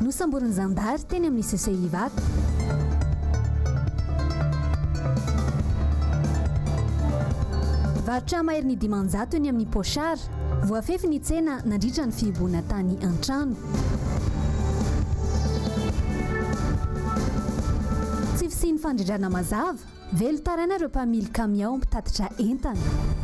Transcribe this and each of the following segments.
Nosamborin'ny zandary teny amin'ny CCI Ivato. Varotra maherin'ny dimanjato eny amin'ny Pochard, voafefy ny tsena nandritra ny fihibohana tany an-trano. Tsy fisian'ny fandrindrana mazava, velon-taraina ireo mpamily kamiao mpitatitra entana.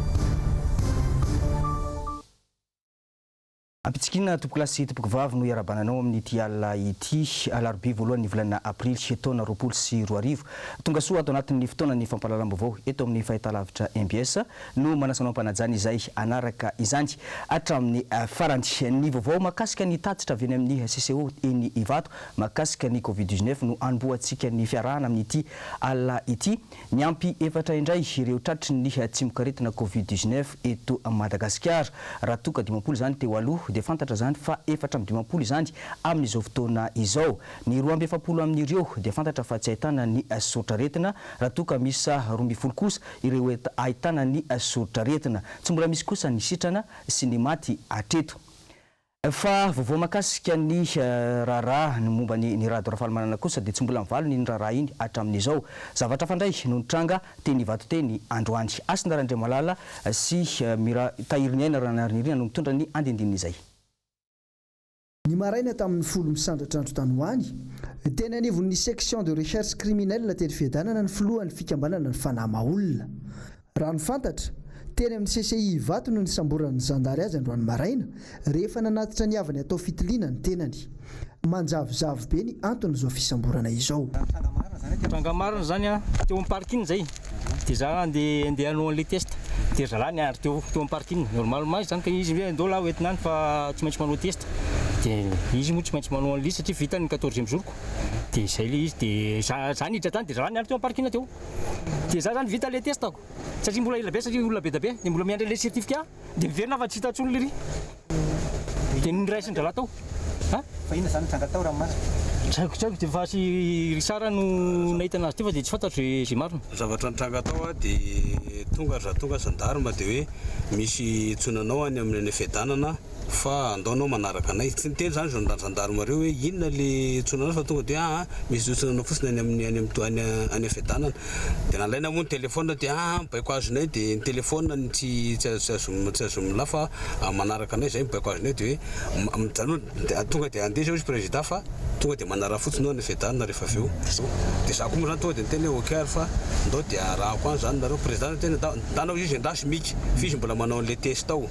Ampitsikinina Tompokolahy sy Tompokovavy no iarabananao amin'ity alina ity, alarobia voalohan'ny volana aprily taona roapolo sy roa arivo. Tongasoa ato anatin'ny fotoanan'ny fampahalalam-baovao eto amin'ny fahitalavitra mbs no manasa anao am-panajana izay hanaraka izany hatramin'ny farany. Ny vaovao mahakasika ny tatitra avy eny amin'ny CCO eny Ivato mahakasika ny covid dix-neuf no hanombohantsika ny fiarahana amin'ity alina ity. Niampy efatra indray ireo tratry ny tsimokaretina Covid dix neuf eto Madagasikara. Raha toa ka dimampolo izany teo aloha dia fantatra izany fa efatra amby dimampolo izany amin'izao fotoana izao. Ny roa amby efapolo amin'ireo dia fantatra fa tsy ahitana ny soritr'aretina raha toa ka miisa roa ambin'ny folo kosa ireo ahitana ny soritr'aretina. Tsy mbola misy kosa ny sitrana sy ny maty hatreto. Fa vaovao mahakasika ny raharaha ny momba an'i Ny Rado Rafalimanana kosa dia tsy mbola mivalona iny raharaha iny hatramin'izao. Zavatra hafa indray no nitranga teny Ivatoteny androany. Hasina Randriamalala sy Mira Tahiriniaina Ranariniaina no mitondra ny andindinin'izay. Ny maraina tamin'ny folo misandratra andro tany ho any, teny anivon'ny Section de Recherche Criminelle teny Fiadanana ny filohan'ny fikambanana ny Fanahy Maha Olona, Raha ny fantatra, teny amin'ny CCI Ivato no nisamboran'ny zandary azy androany maraina, rehefa nanatitra ny havany hatao fitiliana ny tenany. Manjavozavo be ny anton'izao fisamborana izao. Tranga marina izany an! Teo amin'ny parking izay dia za handeha handeha hanao an'ilay test dia ry zalahy niandry teo teo amin'ny parking. Normal ma izany ka izy hoe andao lahy ho entina any fa tsy maintsy manao test. Dia izy moa tsy maintsy manao an'ilay izy satria vita ny quatorzième jour-ko. Dia izay ilay izy dia za za niditra tany dia zalahy niandry teo amin'ny parking teo. Dia za zany vita le testako satria mbola ela be satria olona be dia be dia mbola miandry an'ilay certificat dia miverina fa tsy hita intsony lery dia noraisin-drahalahy tao a! Fa inona izany nitranga tao ranomasina? Tsy haiko tsy haiko dia fa sy Richard no nahita anazy teo fa dia tsy fantatro izay izay marina. Zavatra nitranga tao a! Dia tonga ry zandry tonga zandary mba dia hoe misy intsony anao any amin'ny any fiadanana a! fa andao anao manaraka anay. Tsy niteny izany zany zandary reo hoe inona le hitsona anao fa tonga de aa misy hitsona anao fotsiny any amin'ny any amin'ny any fiadanana de nalaina moa ny telephone de aa mibaiko azonay de ny telephone no tsy tsy azo tsy azo mila fa manaraka anay zay mibaiko azonay de hoe mijanona tonga de andeha zao izy prezida fa tonga de manaraha fotsiny eo any fiadanana rehefa avy eo de za ko moa zany tonga de niteny hoe ok ary fa ndao de arahako any zany nareo prezida no tena ndao ndao izy endasy mika f'izy mbola manao an'le test ao.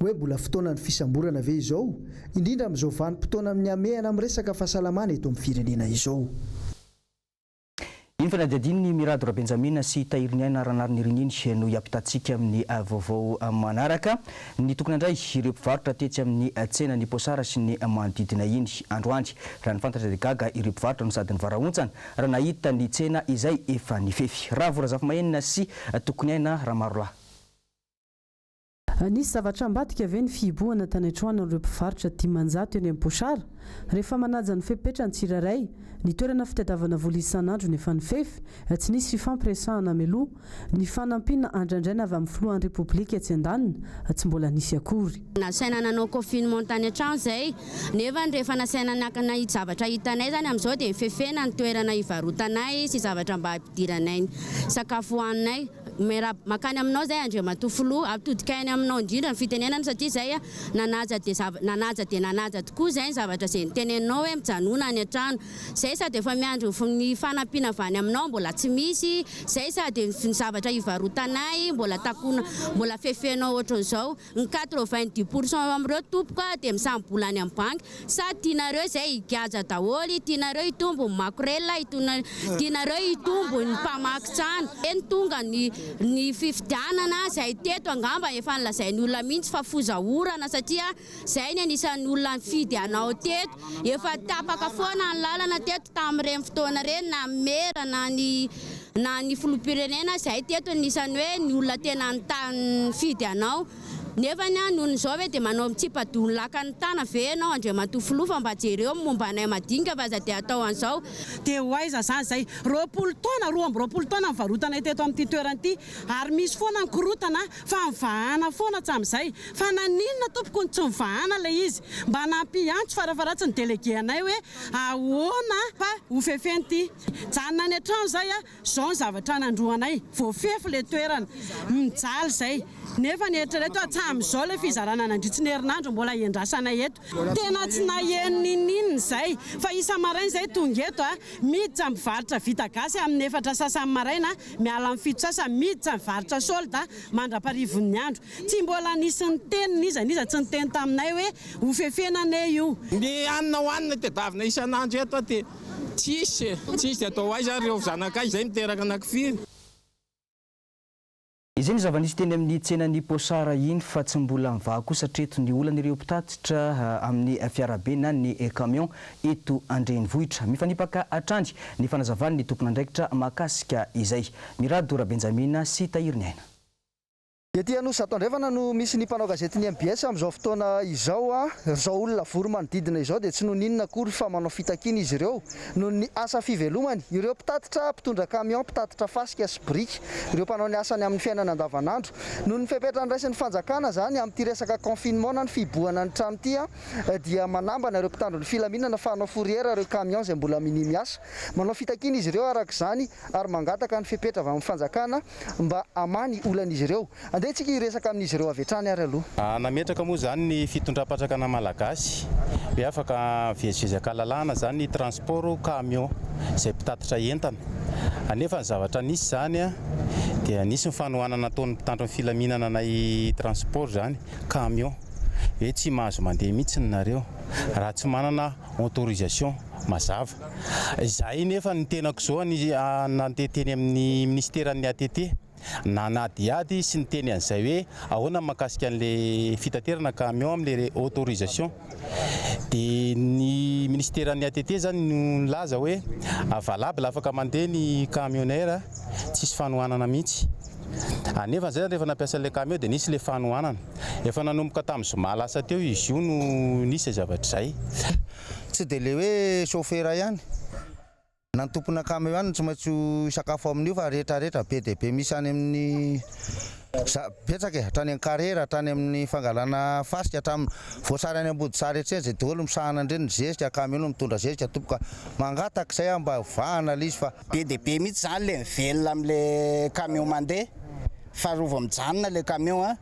Hoe mbola fotoanan'ny fisamborana ve izao, indrindra amin'izao vanim-potoana amin'ny hamehana amin'ny resaka fahasalamana eto amin'ny firenena izao? Iny fanadihadian'ny Mirado Rabenjamina sy Tahiriniaina Ranarinirininy no hiampitantsika amin'ny vaovao manaraka. Nitokona indray ireo mpivarotra tetsy amin'ny tsenan'Iposara sy ny manodidina iny androany. Raha ny fantatra dia gaga ireo mpivarotra no sady nivarahontsana raha nahita ny tsena izay efa nifefy. Ravo Razafimahenina sy Tokoniaina Ramarolahy. Nisy zavatra ambadika ve ny fihibohana tany an-troanan'ireo mpivarotra dimanjato eny Ampochard? Rehefa manaja ny fepetra ny tsirairay, ny toerana fitadiavana vola isan'andro no efa nifefy, tsy nisy fifampiresahana mialoha. Ny fanampiana andrandraina avy amin'ny filohan'ny Repoblika etsy andaniny, tsy mbola nisy akory. Nasaina nanao confinement tany an-trano izay, nefa rehefa nasaina niankina hijavatra hitanay izany amin'izao dia nifefena ny toerana hivarotanay sy zavatra mba hampidiranay ny sakafo hohaninay. Miarahaba mankany aminao izay Andriamatoa Filoha. Atodikainy aminao indrindra ny fitenenana satria izay nanaja dia zava, nanaja dia nanaja tokoa izay ny zavatra izay niteneninao hoe mijanona any an-trano. Izay sady efa miandry ny ny fanampiana avy any aminao mbola tsy misy, izay sady ny ny zavatra hivarotanay mbola takona, mbola fefenao ohatran'izao. Ny quatre vingt dix pour cent eo amin'ireo tompoko dia misambola any amin'ny banky. Sa tianareo izay higadra daholo? Tianareo hitombo ny makorelina? Tianareo hitombo ny mpamaky trano? Eny tonga ny ny fifidianana izay teto angamba efa nolazain'ny olona mihitsy fa foza orana satria izay ny anisan'ny olona nifidy anao teto. Efa tapaka foana ny lalana teto tamin'ireny fotoana ireny na ny mera na ny na ny filoham-pirenena izay teto anisany hoe ny olona tena nifidy anao nefa ny an noho izao ve dia manao mitsipa-doha ny lakan'ny tana ve ianao Andriamatoa Filoha fa mba jereo ny momba anay madinika fa aza dia atao an'izao Dia ho aiza izany izay? Roapolo taona, roa amby roapolo taona nivarotanay teto amin'ity toerana ity ary misy foana ny korotana fa mivahana foana hatramin'izay. Fa naninona tompoko no tsy mivahana ilay izy? Mba nampiantso fara-faharatsiny délégué anay hoe ahoana fa hofefeny ity. Mijanona any an-trano zay a, zao ny zavatra nandroanay, voafefy le toerana, mijaly zay, nefa ny eritrereto hatsamizao le fizarana nandritry ny herinandro mbola hiandrasana eto, tena tsy naheno ninininona zay, fa isa-maraina zay tonga eto a, miditra mivarotra vita gasy aminy efatra sasany maraina, miala am fito sasany, miditra mivarotra solde mandra-parivon'ny andro, tsy mbola nisy niteny n'iza n'iza tsy niteny taminay hoe hofefena anie io. Ny hanina hohanina tedavina isan'andro eto a, dia Tsisy e! Tsisy de atao aiza ary ireo zanakay izay niteraka anaky firy? Izay ny zava-nisy teny amin'ny tsenan'i Pochard iny fa tsy mbola mivaha kosa hatreto ny olan'ireo mpitatitra amin'ny fiarabe na ny camion eto an-drenivohitra. Mifanipaka hatrany ny fanazavan'ny tompon'andraikitra mahakasika izay. Mirado Rabenjamina sy Tahiriniaina. Ety Anosizato Andrefana no misy ny mpanao gazety ny mbs amin'izao fotoana izao. Ry izao olona vory manodidina izao dia tsy noninona akory fa manao fitakiana izy ireo noho ny asa fivelomany. Ireo mpitatitra, mpitondra camion, mpitatitra fasika sy biriky, ireo mpanao ny asany amin'ny fiainana andavanandro. Noho ny fepetra noraisin'ny fanjakana izany amin'ity resaka confinement na ny fihibohana ny trano ity dia manambana ireo mpitandro ny filaminana fa hanao fourrière ireo camion izay mbola minia miasa. Manao fitakiana izy ireo araka izany ary mangataka ny fepetra avy amin'ny fanjakana mba hamaha ny olan'izy ireo. Andeha isika hiresaka amin'izy ireo avy hatrany ary aloha. Nametraka moa izany ny fitondram-panjakana malagasy hoe afaka mivezivezy an-kalalahana izany ny transport camion izay mpitatitra entana. Anefa ny zavatra nisy izany dia nisy ny fanohanana nataon'ny mpitandro ny filaminana anay transport izany camion hoe tsy mahazo mandeha mihitsy nareo raha tsy manana autorisation mazava. Izahay nefa ny tenako izao nandeha teny amin'ny minisiteran'ny ATT nanadihady sy niteny an'izay hoe ahoana ny mahakasika an'ilay fitaterana camion amin'ilay autorisation dia ny minisiteran'ny ATT izany no nilaza hoe valable afaka mandeha ny camionnaire tsisy fanohanana mihitsy. Anefa zay rehefa nampiasa ilay camion dia nisy ilay fanohanana. Efa nanomboka tamin'ny zoma lasa teo izy io no nisy izay zavatra izay. Tsy dia ilay hoe chauffeur ihany na ny tompona camion ihany no tsy maintsy ho hisakafo amin'io fa rehetra rehetra be dia be misy any amin'ny za betsaka e! hatrany amin'ny carrière, hatrany amin'ny fangalana fasika, hatramin'ny voasary any ambodisary etsy zay daholo misahana an'ireny ny zezika, camion no mitondra zezika tompoko ka mangataka izay aho mba vahana ilay izy fa Be dia be mihitsy izany ilay mivelona amin'ilay camion mandeha, fa raha vao mijanona ilay camion a,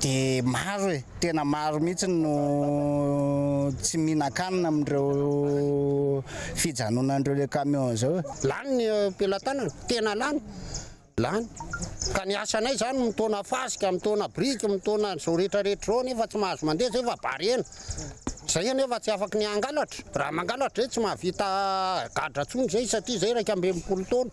dia maro e, tena maro mihitsy no tsy mihinan-kanina amin'ireo fijanonan'ireo camion izao e. Lany ny pelatanana, tena lany. Lany. Ka ny asanay izany mitaona fasika, mitaona biriky, mitaona an'izao rehetrarehetra izao anefa tsy mahazo mandeha izay fa bariana. Izay anefa tsy afaka ny hangalatra. Raha mangalatra izay tsy mahavita gadra intsony izay satria izay iraika amby enimpolo taona.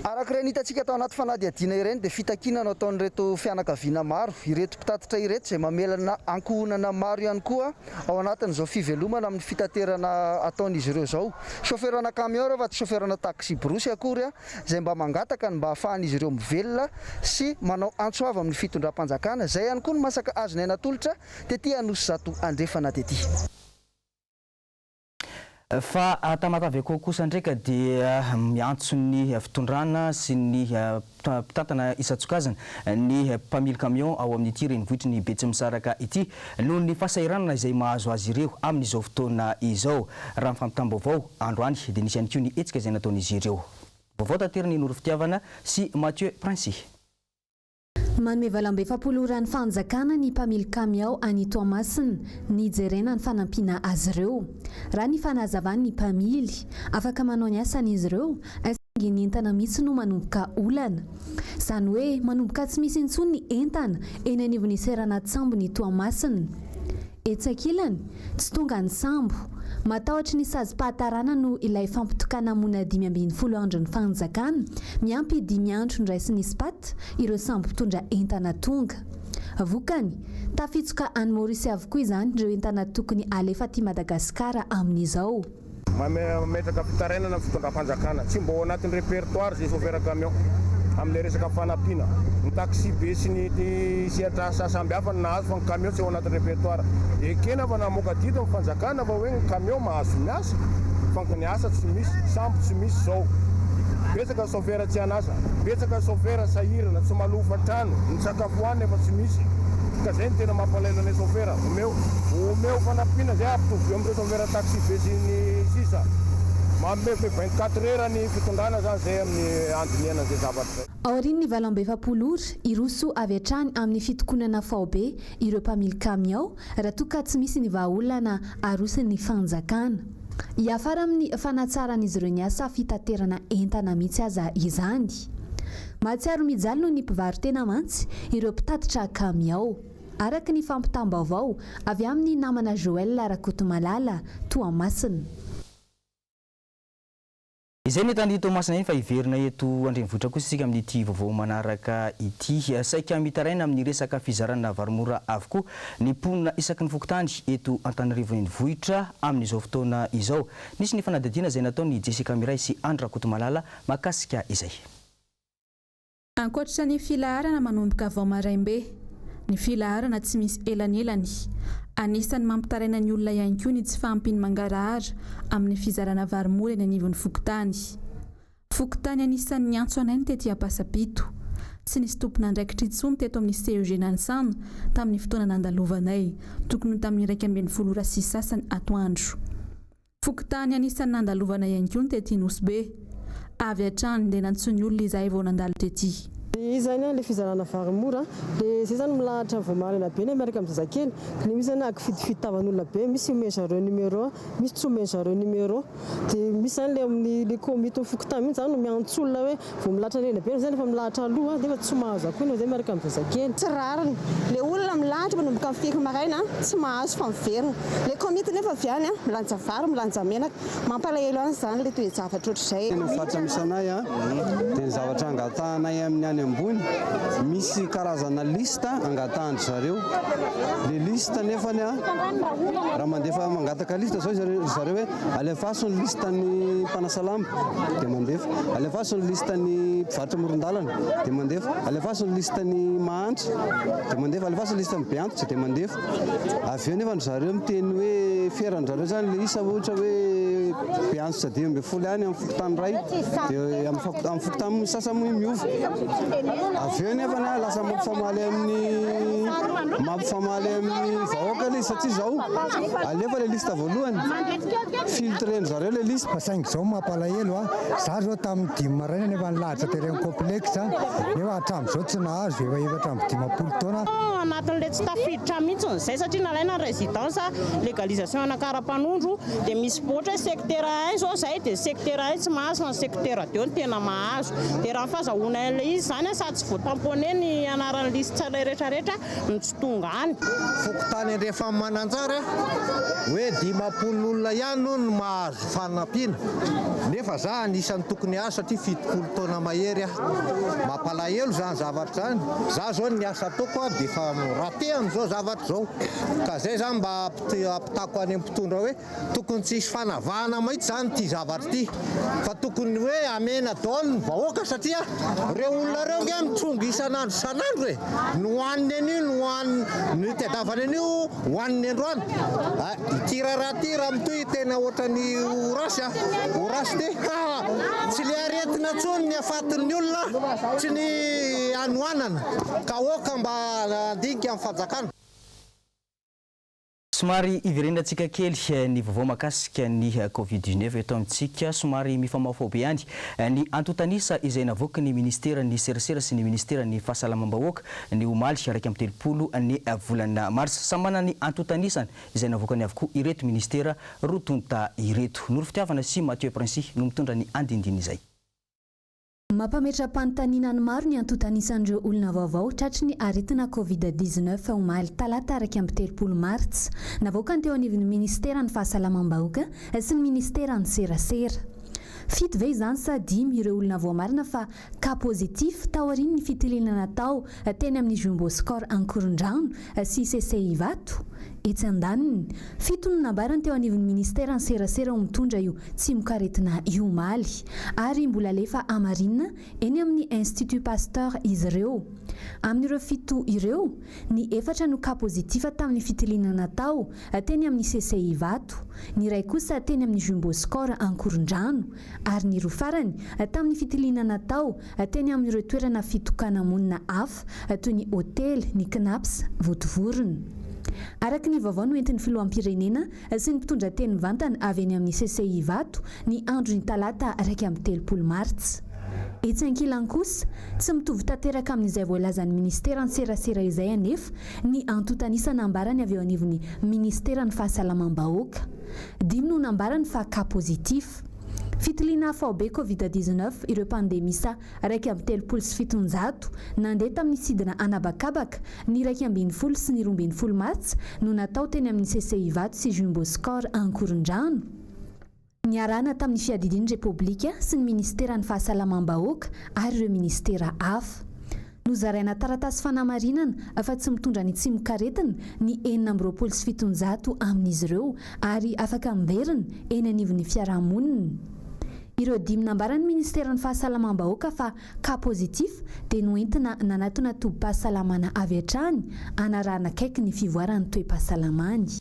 Araka ireny hitantsika tao anaty fanadihadiana ireny dia fitakiana no ataon'ireto fianakaviana maro ireto mpitatitra ireto izay mamelana ankohonana maro ihany koa ao anatin'izao fivelomana amin'ny fitaterana ataon'izy ireo izao. Chaufferana camion ireo fa tsy chaufferana taxi-brousse akory. izay mba mangataka ny mba hahafahan'izy ireo mivelona sy manao antso avo amin'ny fitondram-panjakana, izay ihany koa no masaka hazonay natolotra tety Anosizato Andrefana tety. Fa Tamatavy-Akao kosa indray ka dia miantso ny fitondrana sy ny mpitantana isan-tsokajiny ny mpamily kamiao ao amin'ity renivohitry ny Betsimisaraka ity noho ny fahasahiranana izay mahazo azy ireo amin'izao fotoana izao, raha ny fampitam-baovao. Androany dia nisy ihany koa ny hetsika izay nataon'izy ireo. Vaovao tater ny Noro Fitiavana sy Mathieu Prince. Manome valam-be efapolo ora ny fanjakana ny mpamily kamiao any Toamasina, nijerena ny fanampiana azy ireo. Raha ny fanazavan'ny mpamily, afaka manao ny asany izy ireo, saingy ny entana mihitsy no manomboka olana. Izany hoe manomboka tsy misy intsony ny entana eny anivon'ny seranan-tsambon'i Toamasina. Etsy ankilany, tsy tonga ny sambo. Matahotry ny sazim-pahatarana no ilay fampitokana hamoina dimy ambin'ny folo andron'ny fanjakana, miampy dimy andro niraisin'ny Spat ireo sambo mpitondra entana tonga. Vokany, tafitsoka any Maorisy avokoa izany ireo entana tokony halefa aty Madagasikara amin'izao. Mametraka am-pitarainana ny fitondram-panjakana. Tsy mba ao anatin'ny repertoire izay chauffeur camion amin'ilay resaka fanampiana. Ny taxibe sy ny sehatra samy hafa no nahazo fa ny camion tsy ao anatin'ny repertoire. Ekena fa namoaka didy ny fanjakana fa hoe ny camion mahazo miasa fa ny asa tsy misy. Sambo tsy misy izao. Betsaka ny chauffeur tsy an'asa. Betsaka ny chauffeur sahirana, tsy malofa trano, ny sakafo hohanina efa tsy misy. Ka izay no tena mampalahelo anay chauffeur. Omeo fanampiana izay hahampitovieo amin'ireo chauffeur. Chauffeur taxi be sy ny sisa. Mamehy vingt quatre heures ny fitondrana zany zay amin'ny andinihana an'izay zavatra zay. Aorian'ny valo amby efapolo ora, hiroso avy hatrany amin'ny fitokonana faobe ireo mpamily kamiao raha toa ka tsy misy ny vahaolana aroson'ny fanjakana. Hiafara amin'ny fanatsaran'izy ireo ny asa fitaterana entana mihitsy aza izany. Mahatsiaro mijaly noho ny mpivaro-tena mantsy ireo mpitatitra kamiao. araka ny fampitam-baovao avy amin'ny namana Joel Rakotomalala, Toamasina. Izay ny eto any Toamasina iny fa hiverina eto an-drenivohitra kosa isika amin'ity vaovao manaraka ity. Saika mitaraina amin'ny resaka fizarana vary mora avokoa ny mponina isaky ny fokontany eto Antananarivo Renivohitra amin'izao fotoana izao. Nisy ny fanadihadiana izay nataon'i Jessica Miray sy Andry Rakotomalala mahakasika izay. Ankoatra ny filaharana manomboka vao maraim-be, ny filaharana tsy misy elanelany. Anisan'ny mampitaraina ny olona ihany koa ny tsy fahampian'ny mangarahara amin'ny fizarana vary mora eny anivon'ny fokontany. Fokontany anisan'ny niantso anay ny tety Ampasapito. Tsy nisy tompon'andraikitra intsony teto amin'ny CEG Nanisana tamin'ny fotoana nandalovanay, tokony ho tamin'ny iraika ambin'ny folo ora sy sasany atoandro. Fokontany anisan'ny nandalovana ihany koa ny tety Nosy-Be. Avy hatrany dia nantsoin'ny olona izahay vao nandalo tety. Dia izy izany ilay fizarana vary mora. Dia izay izany milahatra vao maraina be ilay miaraka amin'ny zazakely. Dia misy izany akifidifidy tavan'olona be, misy omen-dry zareo numéro, misy tsy omen-dry zareo numéro. Dia misy izany ilay amin'ny, ilay komitin'ny fokontany mihitsy izany no miantso olona hoe Vao milatra an'ela be zay nefa milahatra aloha an, nefa tsy mahazo akory na zay miaraka amin'ny zazakely. Tsy rariny. Le olona milahatra manomboka amin'ny firy maraina an, tsy mahazo fa miverina. Le komity nefa avy any an, milanja vary, milanja menaka. Mampalahelo an zany le toe-javatra ohatr'izay. Tena fatra misy anay an, dia ny zavatra angatahanay amin'ny any ambony, misy karazana liste angatahan-dry zareo. Le liste nefany an, raha mandefa, mangataka liste zao ry zareo hoe, Alefaso ny listan'ny mpanasalama, dia mandefa. Alefaso ny listan'ny mpivarotra amoron-dalana, dia mandefa. Alefaso ny listan'ny mahantra, dia mandefa. Alefaso ny listan'ny be antitra, dia mandefa. Avy eo nefa ry zareo miteny hoe fiera an-dry zareo izany ilay isa, ohatra hoe be antitra dimy ambin'ny folo ihany amin'ny fokontany iray, dia amin'ny fokontany sasany moa io miova. Avy eo nefa na lasa mampifamaly amin'ny mampifamaly amin'ny vahoaka ilay izy satria izao alefa ilay lista. voalohany filtre ny zareo le lisy. Fa saingy zao mampalahelo a! Za zao tamin'ny dimy maraina nefa nilahatra tery amin'ny complexe a! Nefa hatramin'izao tsy nahazo, efa efatra amby dimampolo taona. Anatin'ilay tsy tafiditra mihitsiny izay satria nalaina ny residence legalisation ana karapanondro dia misy ohatra hoe secteur un izao izay dia secteur un tsy mahazo fa ny secteur deux no tena mahazo dia raha ny fazahoana ilay izy izany a sady tsy voatamponner ny anaran'ny lisy tsirairetraretra ny tsy tonga any. Fokontany Andrefamananjara hoe dimampolo olona ihany hono no mahazo fanampiana nefa za anisany tokony hahazo satria fitopolo taona mahery aho. Mampalahelo izany zavatra izany. Za zao ny asa ataoko dia efa raté amin'izao zavatra izao ka zay za mba ampitako any amin'ny mpitondra hoe Tokony tsy hisy fanavahana maitsy zany ity zavatra ity fa tokony hoe amena daholo ny vahoaka satria reo olona reo nge mitrongy isan'andro isan'andro e! ny hoaniny anio ny hoaniny ny itadiavany anio hoaniny androany a! ity raharaha ity raha mitohy tena otrany ho ratsy a! ho ratsy be ka tsy le aretina tsony ny hafaton'ny olona tsy ny hanoanana ka aoka mba handinika ny fanjakana. Somary hiverenantsika kely ny vaovao mahakasika ny Covid dix neuf eto amintsika. Somary mifamaofao be ihany ny antontan'isa izay navoaky ny Ministeran'ny serasera sy ny Ministeran'ny fahasalamam-bahoaka ny omaly iraika amby telopolo ny volana marsa. Samy manana ny antontan'isany izay navoakany avokoa ireto Ministera roa tonta ireto. Noro Fitiavana sy Mathieu Princi no mitondra ny andinindin'izay. Mampametra-panontaniana ny maro ny antontan'isan'ireo olona vaovao tratry ny aretina Covid dix-neuf omaly talata iraika amby telopolo martsa. Navoakany teo anivon'ny minisiteran'ny fahasalamam-bahoaka sy ny minisiteran'ny serasera. Fito ve izany sa dimy ireo olona voamarina fa cas positif taorian'ny fitiliana natao teny amin'ny Jumbo Score Ankorondrano sy Sesey Ivato, etsy andaniny. Fito no nambarany teo anivon'ny Ministera ny serasera ho mitondra io tsimokaretina io omaly ary mbola alefa hamarinina eny amin'ny Institut Pasteur izy ireo. Amin'ireo fito ireo, ny efatra no cas positif tamin'ny fitiliana natao teny amin'ny Sesey Ivato, ny iray kosa teny amin'ny Jumbo Score Ankorondrano ary ny roa farany tamin'ny fitiliana natao teny amin'ireo toerana fitokana-monina hafa toy ny hotely, ny Cnaps, Votovorona. Araka ny vaovao noentin'ny filoham-pirenena sy ny mpitondra teny mivantana avy eny amin'ny CCI Ivato ny andron'ny talata iraika amby telopolo martsa. Etsy ankilany kosa, tsy mitovy tanteraka amin'izay voalazan'ny ministeran-tserasera izay anefa ny antontan'isa nambarany avy eo anivon'ny ministeran'ny fahasalamam-bahoaka. Dimy no nambarany fa cas positif. Fitiliana faobe Covid dix-neuf ireo mpandeha miisa iraika amby telopolo sy fitonjato nandeha tamin'ny sidina anabakabaka ny iraika ambin'ny folo sy ny roa ambin'ny folo martsa no natao teny amin'ny CCI Ivato sy Jumbo Score Ankorondrano, niarahana tamin'ny Fiadidian'ny Repoblika sy ny Minisiteran'ny Fahasalamam-bahoaka ary ireo minisitera hafa. Nozaraina taratasy fanamarinana fa tsy mitondra ny tsimokaretina ny enina amby roapolo sy fitonjato amin'izy ireo ary afaka miverina eny anivon'ny fiarahamonina. Ireo dimy nambaran'ny Ministeran'ny Fahasalamam-bahoaka fa cas positif dia noentina nanatona tobim-pahasalamana avy hatrany hanarahana akaiky ny fivoaran'ny toe-pahasalamany.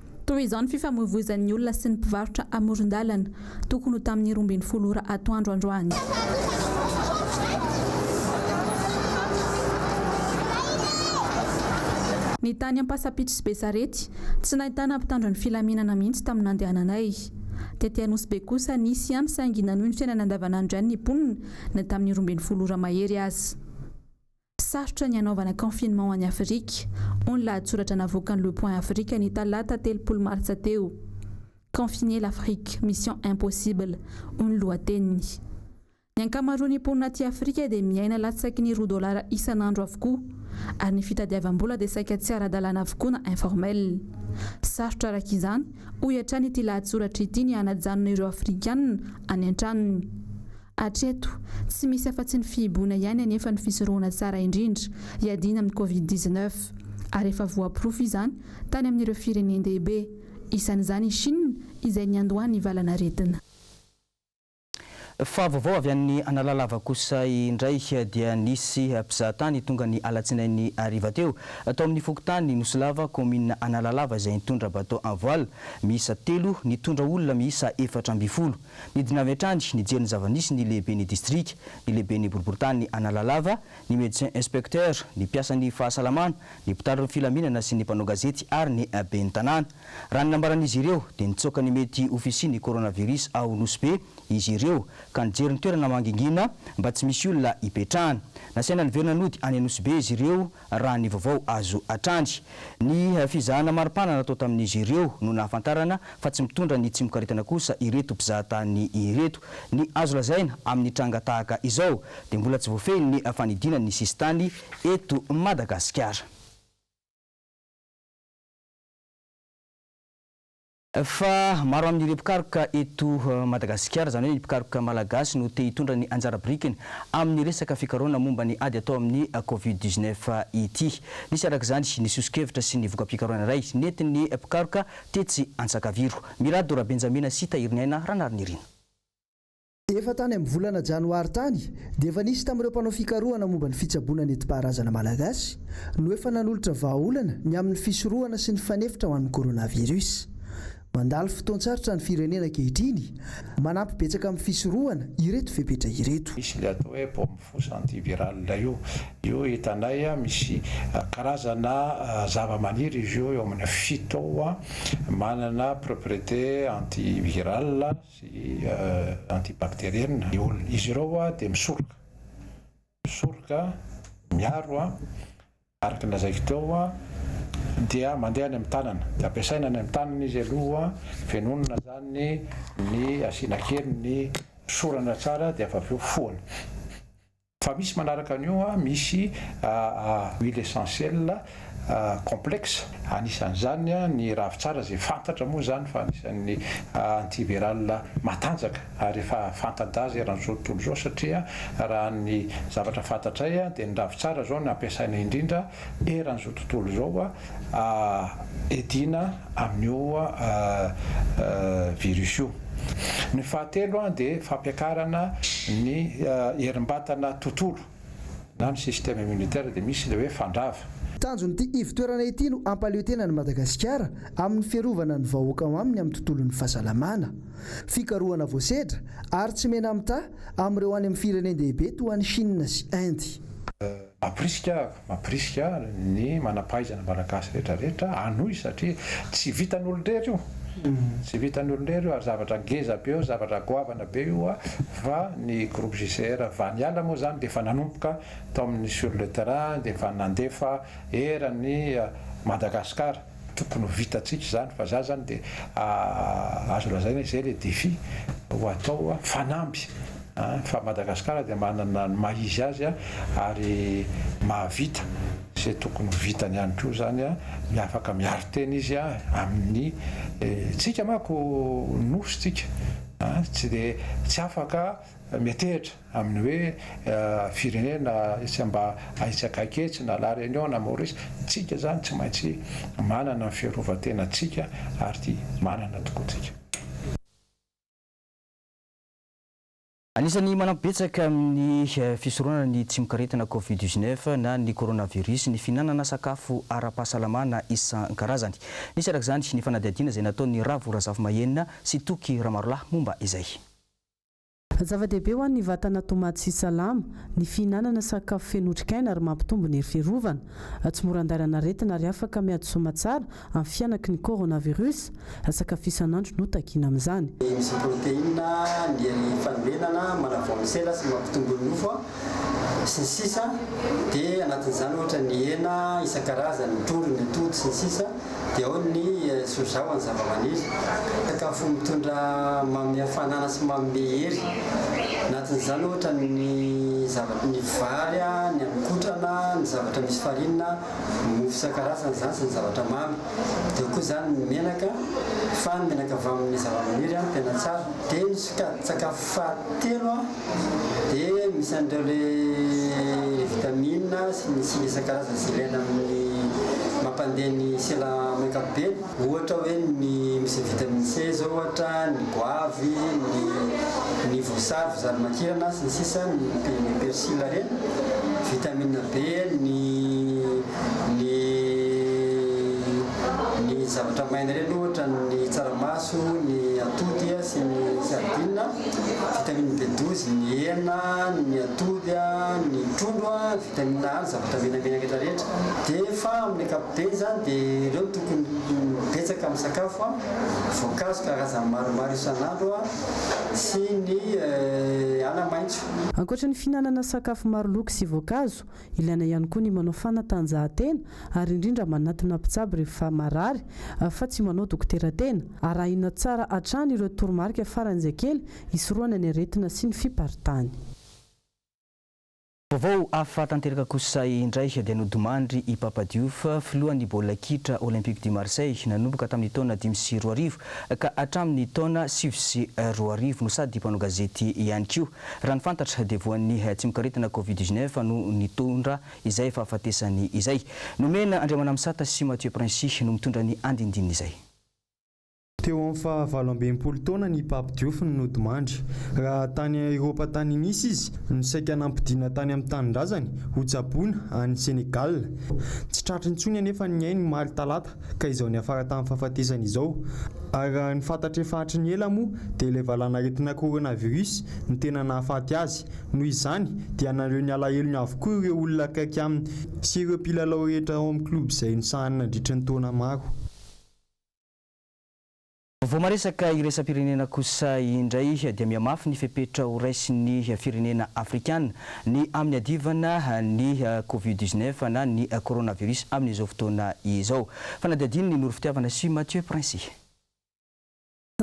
Toy izao ny fifamoivoizan'ny olona sy ny mpivarotra amoron-dalana, tokony ho tamin'ny roa ambin'ny folo ora atoandro androany. Ny tany Ampasampitso sy Besarety, tsy nahitana mpitandro ny filaminana mihitsy tamin'ny nandehananay. Tety Anosibe kosa, nisy ihany saingy nanohy ny fiainana andavanandro ihany ny mponina, na tamin'ny roa ambin'ny folo ora mahery aza. Sarotra ny hanaovana confinement any Afrika, hoy ny lahatsoratra navoakan'ny Le Point Africa ny talata telopolo martsa teo. Confiner l'Afrique, mission impossible, hoy ny lohateniny. Ny ankamaroan'ny mponina aty Afrika dia miaina latsaky ny roa dolara isan'andro avokoa, ary ny fitadiavam-bola dia saika tsy ara-dalàna avokoa na informel. Sarotra araka izany, hoy hatrany ity lahatsoratra ity ny hanajanona ireo Afrikana any an-tranony. Hatreto, tsy misy afa-tsy ny fihiboana ihany anefa ny fisorohana tsara indrindra hiadiana amin'ny Covid dix-neuf, ary efa voaporofo izany tany amin'ireo firenen-dehibe, isan'izany i Chine izay niandohan'ny valan'aretina. Fa vaovao avy any Analalava kosa indray dia nisy mpizahatany tonga ny alatsinainy hariva teo, tao amin'ny fokontany Nosilava, kaominina Analalava izay nitondra bateau en voile miisa telo nitondra olona miisa efatra ambin'ny folo. Nidina avy hatrany nijery ny zava-nisy ny lehiben'ny distrika, ny lehiben'ny boriborintany Analalava, ny médecin inspecteur, ny mpiasan'ny fahasalamana, ny mpitandro ny filaminana sy ny mpanao gazety ary ny ben'ny tanàna. Raha ny nambaran'izy ireo dia nitsoaka ny mety ho fisian'ny coronavirus ao Nosy-Be izy ireo ka nijery ny toerana mangingina mba tsy misy olona hipetrahana. Nasaina niverina nody any Nosy-Be izy ireo Raha ny vaovao azo hatrany, ny fizahana maripana natao tamin'izy ireo no nahafantarana fa tsy mitondra ny tsimokaretana kosa ireto mpizahatany ireto. Ny azo lazaina amin'ny tranga tahaka izao dia mbola tsy voafehy ny fanidiana ny sisintany eto Madagasikara. Fa maro amin'ireo mpikaroka eto Madagasikara, izany hoe ny mpikaroka malagasy no te hitondra ny anjara birikiny amin'ny resaka fikarohana momba ny ady atao amin'ny Covid dix neuf ity. Nisy araka izany ny soso-kevitra sy ny voka-pikarohana iray nentin'ny mpikaroka tetsy Antsakaviro. Mirado Rabenjamina sy Tahiriniaina Ranariniaina. Efa tany amin'ny volana janoary tany dia efa nisy tamin'ireo mpanao fikarohana momba ny fitsaboana nentim-paharazana malagasy no efa nanolotra vahaolana ny amin'ny fisorohana sy ny fanefitra ho an'ny coronavirus. Mandalo fotoan-tsarotra ny firenena ankehitriny, manampy betsaka amin'ny fisorohana ireto fepetra ireto. Misy ilay atao hoe bombe fausse antiviral io, io hitanay misy karazana zavamaniry izy io eo amin'ny fito manana propriété antiviral. sy antibakteriena ny olona. Izy ireo dia misoroka, misoroka, miaro, araka ny lazaiko teo, dia mandeha any amin'ny tanana, dia ampiasaina any amin'ny tanana izy aloha, venonina izany ny asiana kely ny fisorana tsara dia avy eo foana. Fa misy manaraka an'io an, misy huile essentiel complexe, anisan'izany ny ravitsara izay fantatra moa izany fa anisan'ny anti viral matanjaka ary efa fanta-daza eran'izao tontolo izao satria raha ny zavatra fantatray dia ny ravitsara izao no ampiasaina indrindra eran'izao tontolo izao Edina amin'io virus io. Ny fahatelo dia fampiakarana ny herim-batana tontolo na ny système immunitaire dia misy ilay hoe fandrava. Tanjon'ity ivotoerana ity no hampaleo tena an'i Madagasikara amin'ny fiarovana ny vahoaka ao aminy amin'ny tontolon'ny fahasalamana. Fikarohana voasedra ary tsy mena-mitaha amin'ireo any amin'ny firenen-dehibe toa an'i Chine sy Inde. Mampirisika aho, mampirisika aho ny manam-pahaizana malagasy rehetra rehetra hanohy satria tsy vitan'ny olon-drery io, tsy vitan'ny olon-drery io ary zavatra ngeza be io, zavatra goavana be io fa ny groupe JCR Vaniala moa izany dia efa nanomboka tao amin'ny sur le terrain dia efa nandefa eran'ny Madagasikara. Tokony ho vitantsika izany fa za zany dia azo lazaina izay le defi ho atao fanamby fa Madagascar dia manana ny maha izy azy ary mahavita izay tokony ho vitany ihany koa izany ny afaka miaro tena izy amin'ny tsika manko nosy tsika tsy dia tsy afaka metehitra amin'ny hoe firenena izay mba aitsy akaiky etsy na La Réunion na Maurice, tsika izany tsy maintsy manana ny fiarovan-tenantsika ary manana tokoa tsika. Anisan'ny manampy betsaka amin'ny fisoronana ny tsimokaretina Covid dix neuf na ny coronavirus ny fihinanana sakafo ara-pahasalamana isan-karazany. Nisy araka izany ny fanadihadiana izay nataon'i Ravo Razafimahenina sy Toky Ramarolahy momba izay. Zava-dehibe ho an'ny vatana tomady sy salama ny fihinanana sakafo feno otrikaina ary mampitombo ny hery fiarovana. Tsy mora andairana aretina ary afaka miady soma tsara amin'ny fihanaky ny coronavirus. Sakafo isan'andro no takiana amin'izany. Misy protéines, ny hery fanorenana, manavao ny sela sy mampitombo ny nofo. sy ny sisa dia anatin'izany ohatra ny hena isan-karazany, ny trondro, ny atody sy ny sisa dia ao ny soja ho an'ny zava-maniry, sakafo mitondra manome hafanana sy manome hery, anatin'izany ohatra ny zavatra ny vary, ny haninkotrana, ny zavatra misy farine, ny mofo isan-karazany izany sy ny zavatra mamy, dia ao koa izany ny menaka fa ny menaka avy amin'ny zava-maniry tena tsara, dia ny sokajin-tsakafo fahatelo. Dia misy an'ireo le vitamina sy ny singa isan-karazany izay ilaina amin'ny mampandeha ny sela amin'ny ankapobeny. Ohatra hoe ny misy ny vitamine C izao ohatra, ny goavy, ny ny voasary, voasary makirana sy ny sisa, ny ny persil ireny. Vitamina B ny ny ny zavatra maina ireny ohatra ny tsaramaso, ny atody. sy ny sardine, vitamine B douze, ny hena, ny atody, ny trondro, vitamine A, ny zavatra menamena rehetra rehetra dia fa amin'ny ankapobeny izany dia ireo no tokony ho betsaka amin'ny sakafo, voankazo karazany maromaro isan'andro sy ny ala maitso. Ankoatra ny fihinanana sakafo maro loko sy voankazo, Ilaina ihany koa ny manao fanatanjahantena ary indrindra manatona mpitsabo rehefa marary fa tsy manao dokotera tena. Arahina tsara hatrany ireo toromarika faran'izay kely hisorohana ny aretina sy ny fiparitany. Vaovao hafa tanteraka kosa indray dia nodimandry i Pape Diouf, filohan'ny baolina kitra Olympique du Marseille, nanomboka tamin'ny taona dimy sy roa arivo ka hatramin'ny taona sivy sy roa arivo no sady mpanao gazety ihany koa. Raha ny fantatra dia voan'ny tsimokaretina Covid dix-neuf no nitondra izay fahafatesany izay. Nomena Andriamanamisata sy Mathieu Princhy no mitondra ny andindininy izay. Teo amin'ny faha valo ambin'ny folo taona ny Pape Diouf no nodimandry. Raha tany Eropa tany Nice izy no saika nampodiana tany amin'ny tanindrazany ho tsaboina any Senegal. Tsy tratra intsony anefa ny ainy omaly talata ka izao niafara tamin'ny fahafatesany izao. Ary raha ny fantatra efa hatry ny ela moa dia ilay valanaretina coronavirus no tena nahafaty azy. Noho izany dia naneo ny alahelony avokoa ireo olona akaiky aminy sy ireo mpilalao rehetra ao amin'ny klioba izay nisahaniny nandritry ny taona maro. Vao maresaka iraisam-pirenena kosa indray dia mihamafy ny fepetra ho raisin'ny firenena afrikana ny amin'ny adivana ny covid dix-neuf na ny coronavirus amin'izao fotoana izao. Fanadihadian'i Noro Fitiavana sy Mathieu Princi.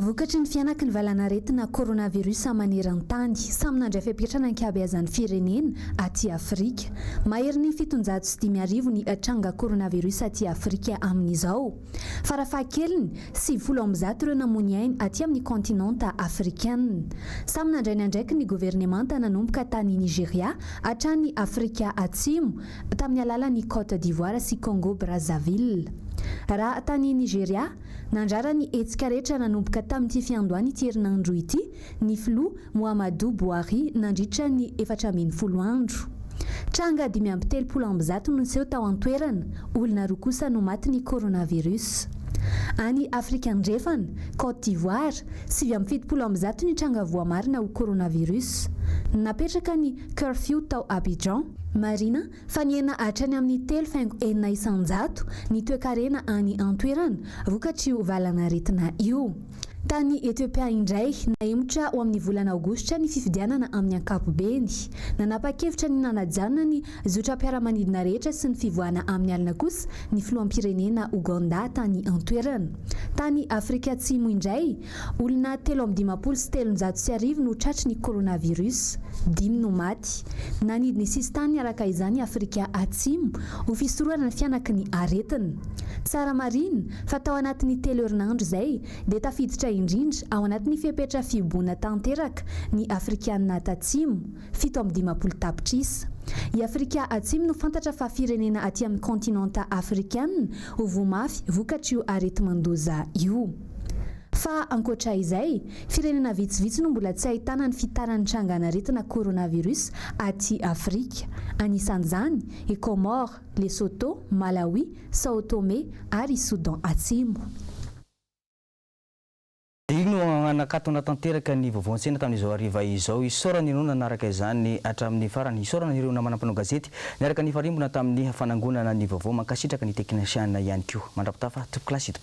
Vokatry ny fihanaky ny valanaretina coronavirus maneran-tany, samy nandray fepetra ny ankabeazan'ny firenena aty Afrika. Maherin'ny fitonjato sy dimy arivo ny tranga coronavirus aty Afrika amin'izao. Farafahakeliny, sivifolo amby zato ireo namoy ainy aty amin'ny kaontinanta afrikana. Samy nandray ny andraikiny ny governemanta nanomboka tany Nigeria hatrany Afrika Atsimo, tamin'ny alalan'i Côte d'Ivoire sy Congo Brazzaville. Raha tany Nigeria, nandràra ny hetsika rehetra nanomboka tamin'ity fiandohan'ity herinandro ity, ny filoha Mouhamadou Bouhari nandritra ny efatra ambin'ny folo andro. Tranga dimy amby telopolo amby zato no niseho tao an-toerana, olona roa kosa no matin'ny coronavirus. Any Afrika Andrefana, Côte d'Ivoire, sivy amby fitopolo amby zato ny tranga voamarina ho coronavirus. Napetraka ny curfew tao Abidjan. Marihina fa nihena hatrany amin'ny telo faingo enina isan-jato ny toekarena any an-toerana vokatr'io valanaretina io. Tany Etiopia indray, nahemotra ho amin'ny volana Aogositra ny fifidianana amin'ny ankapobeny. Nanapa-kevitra ny nanajanona ny zotram-piaramanidina rehetra sy ny fivoahana amin'ny alina kosa ny filoham-pirenena Ogandà tany an-toerana. Tany Afrika Atsimo indray, olona telo amby dimampolo sy telonjato sy arivo no tratry ny coronavirus. Dimy no maty. Nanidy ny sisintany araka izany i Afrika Atsimo ho fisorohana ny fianaky ny aretina. Tsara marihina, fa tao anatin'ny telo herinandro izay dia tafiditra indrindra ao anatin'ny fepetra fihiboana tanteraka ny Afrikana Tatsimo, fito amby dimampolo tapitrisa. I Afrika Atsimo no fantatra fa firenena aty amin'ny kaontinanta afrikana ho voa mafy vokatr'io areti-mandoza io. Fa ankoatra izay, firenena vitsivitsy no mbola tsy ahitana ny fitaran'ny trangan'aretina coronavirus aty Afrika, anisan'izany i Comores, Lesotho, Malawi, Sao Tome ary i Soudan Atsimo. Io no nanakatona tanteraka ny vaovao an-tsena tamin'izao hariva izao. Isaorana ianao nanaraka izany hatramin'ny farany. Isaorana ireo namana mpanao gazety niaraka nifarimbona tamin'ny fanangonana ny vaovao. Mankasitraka ny teknisiana ihany koa. Mandrapitafa, Topiklasy.